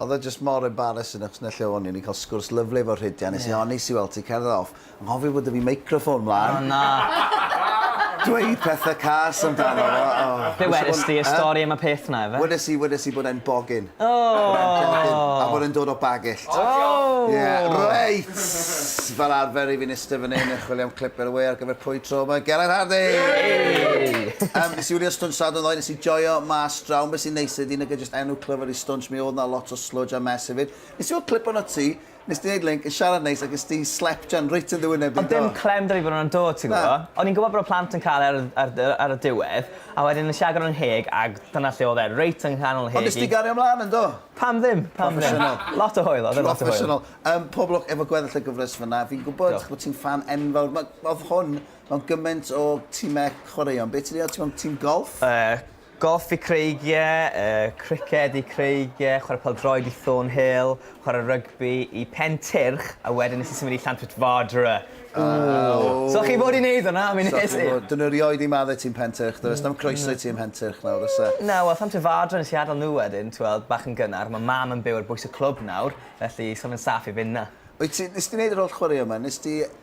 Oedd o jyst mor embarrassing achos 'na lle o'n i, o'n i'n cael sgwrs lyfli efo Rhydian, nes i onest i weld ti cerdded off, anghofio bod 'da fi microffon mlan. O na! Dweud pethe cas amdano fo, o! Be' wedest ti, y stori am y peth 'na ife? Wedes i, wedes i bod e'n bogyn. O! Bod e'n bogyn, a bod e'n dod o Bagillt. O! Ie, reit! Fel arfer i fi'n iste fan 'yn yn chwilio am clip ar y we ar gyfer pwy tro 'ma, Gelert Hardy! Yay! Yym, nes i wylio'r stunt Sadwrn ddoe, nes i joio mas draw, ond be' sy'n neis ydi nag e Enw clyfar i stwnsh, mi odd 'na lot o sludge a mess efyd. Nes i weld clip onot ti, nes ti neud link, yn siarad neis ac es ti slepjan reit yn ddy wyneb di do. Ond dim clem da fi fod yn dod ti'n gwbo. O'n i'n gwbo bod y plant yn ca'l e ar ar yy ar y diwedd a wedyn nes i agor 'yn ngheg ag dyna lle odd e, reit yng nghanol ngheg i. Ond nes ti gario mlan yn do? Pam ddim? Pam ddim? Proffesiynol. Lot o hwyl odd e lot o hwyl. Proffesiynol. Yym pob lwc efo gweddill y gyfres fynna. Fi'n gwbod. Diolch. Bo' ti'n ffan enfawr ma- odd hwn mewn gyment o time chwaraeon. Be' ti 'di oti'n mewn tîm golff? Yy Golff i creigiau, criced i creigiau, chwarae pêl-droed i Thornhill, chwarae rygbi i Pen Tyrch a wedyn nes i symud i Llantrwt Fodera. Ww! So chi fod i neud hwnna am unwaith? So chi fod. Dyna rioed i madde ti yn Pen Tyrch does? Does dim croeso i ti yn Mhen Tyrch nawr oes e? Mm na wel Llantrwt Fodera nes i adel nhw wedyn t'weld bach yn gynnar ma' mam yn byw ar bwys y clwb nawr felly so fe'n saff i fyn' 'na. Wyt ti, nes di neud yr holl chwaraeon ma? Nes di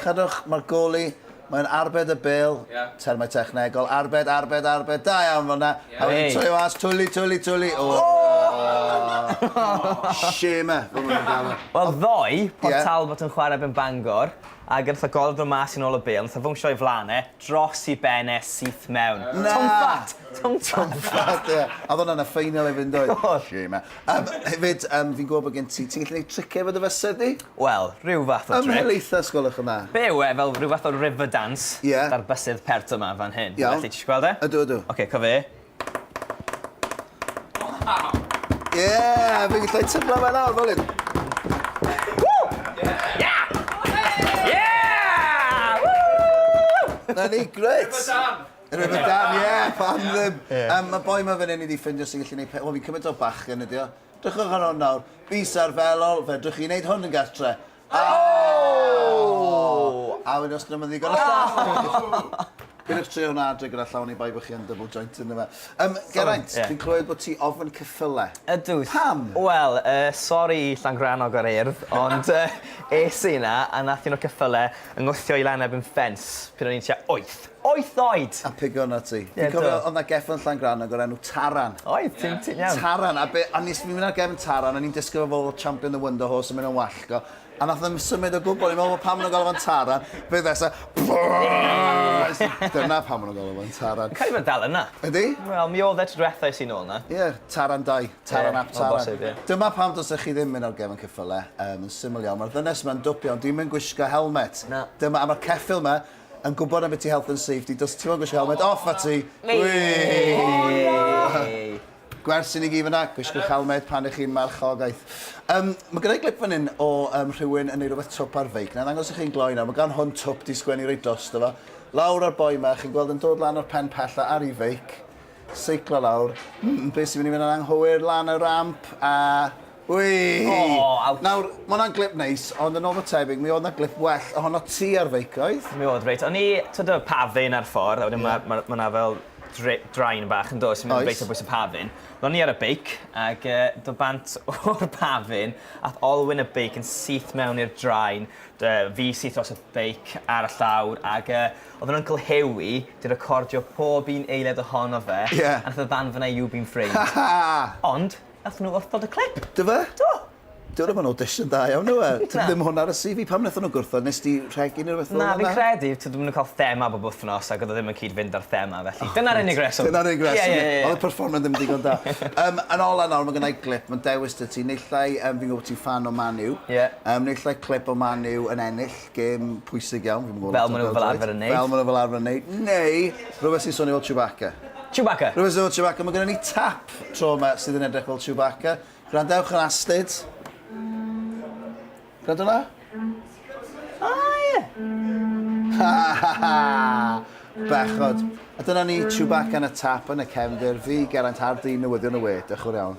Cadwch, mae'r goli, mae'n arbed y bêl, termau technegol, arbed, arbed, arbed, da iawn fel yna, a wedyn troio mas, twli, twli, twli, o! Shame, fel maen nhw'n galw. Wel ddoe, Port Talbot yn chwarae erbyn Bangor, ac wrth y golwg ddod mas yn ôl y bêl, wnaeth e fownsio o'i flaen e, dros ei ben e, syth mewn. Na! Twmpat! Twmpat! Twmpat, ie. A oedd hwnna'n y ffeinal hefyd yn doedd? Oedd. Shame. Yym, hefyd, yym, fi'n gwybod bod gen ti... Ti'n gallu gwneud triciau efo dy fysedd di? Wel, rhyw fath o tric. Ymhel eitha, os gwelwch yn dda. Be yw e, fel rhyw fath o river dance... Ie. ...'da'r bysedd pert yma fan hyn. Iawn. Felly, ti isio gweld e? Ydw, ydw. Ocê, cof e. Waw! Ie! Fi'n gallu tyblo fe nawr, fel hyn. Ie! Ie! Ww! 'Na ni, grêt! River dance! Rhyfedd Dan, ie, pam ddim? Yym, mae boi ma fan hyn i di ffindio sy'n gallu neud pe... O, fi'n cymryd o bachgen ydi o. Drychwch ar hwn nawr. Bys ar felol, fedrwch chi neud hwn yn gartre. A wedyn os ddim yn ddigon o staff... Pidwch trio hwnna adre gyda llaw oni bai bod chi yn double joint ynddo fe. Yym, Geraint, fi'n clywed bod ti ofn ceffyle. Ydw. Pam? Wel, yy, sori i Llangrannog a'r Urdd, ond yy es i 'na a nath un o'r ceffyle 'y ngwthio i lan erbyn ffens pryd o'n i'n tua wyth. Wyth oed! A pigo arnat ti. Ie, do. Fi'n cofio, oedd 'na gefn Llangrannog o'r enw Taran. Oedd, ti'n ti'n iawn. Taran, a be, a nes i mynd ar gefn Taran, o'n i'n disgwyl fo fod fel champion the wonder horse yn mynd yn wallgo, a nath o ddim symud o gwbl, o'n i'n meddwl fod pam maen nhw'n galw fo'n Taran, be ddesa, dyna pam maen nhw'n galw fo'n Taran. Cael ei fod dal yna. Ydy? Wel, mi oedd e tro diwetha es i nôl yna. Ie, Taran 2, Taran Ie, ap o Taran. bosib, ie. Dyma pam dylsech chi ddim mynd ar gefn ceffyle, yym, yn syml iawn, mae'r ddynes yma'n dwp iawn, 'di hi'm yn gwisgo helmet. Na. Dyma, a mae'r ceffyl 'ma, yn gwybod am biti health and safety, dos ti'n gwisgo helmet, off at ti! Gwers i ni gyd fyna, gwisgwch helmet pan ych chi'n marchogaeth. Um, mae gyda'i glip fan hyn o um, rhywun yn ei rhywbeth twp ar feic. Na, ddangos i chi'n gloi nawr, mae gan hwn twp di sgwennu reit dros, dyfa. Lawr ar boi yma, chi'n gweld yn dod lan o'r pen pella ar ei feic. Seiclo lawr. Mm, be' sy myn' i fyn' yn anghywir lan y ramp a wei! O! Ouch! Nawr, ma' wnna'n glip neis, ond yn ôl fy tebyg, mi o'dd 'na glip well ohono ti ar feic, oedd? Mi o'dd, reit. O'n i, t'od y pafin ar ffor a wedyn ma' ma' ma' 'na fel dre- drain bach yndoes? Oes. O'n i myn' reit ar bwys y pafin. Wel o'n i ar y beic ag yy do' bant o'r pafin a'th olwyn y beic yn syth mewn i'r drain. Dy- fi syth drosodd beic ar y llawr ag yy Oedden Uncle Hughie 'di recordio pob un eiliad ohono fe... Ie. ...a nath e ddanfona You've been framed. Ond, nathon nhw wrthod y clip. Do fe? Do. Dyw e ddim yn audition da iawn yw e? Na. Tybed ddim hwn ar y CV. Pam nathon nhw gwrthod? Nes di rhegi neu rwbeth fel 'na? Na, fi'n credu, t'od ma' nw'n ca'l thema bob wthnos ag o'dd o ddim yn cyd-fynd â'r thema felly. O. Dyna'r unig reswm. Dyna'r unig reswm. Ie ie ie ie. O'dd y perfformio ddim digon da. Yym, yn ola nawr ma' gennai glip, ma'n dewis 'da ti. Naill ai yym fi'n gwbo bo' ti'n ffan o Man U. Ie. Yym naill ai clip o Man U yn ennill. gêm pwysig iawn. Fi'm yn gwbod lot am bel-droed. Fel ma' nw fel arfer yn neud. Fel ma' nw fel arfer yn neud. Neu rwbeth sy'n swnio fel Chewbacca. Chewbacca! Rwbeth sy'n swnio fel Chewbacca. Ma' gynnon ni tap tro 'ma sydd yn edrych fel Chewbacca. Gwrandewch yn astud. Gwrando 'na. O ie! Ha ha ha! Bechod. A dyna ni, Chewbacca yn y tap yn y cefndir. Fi, Geraint Hardy, newyddion y we. Dioch yn fowr iawn.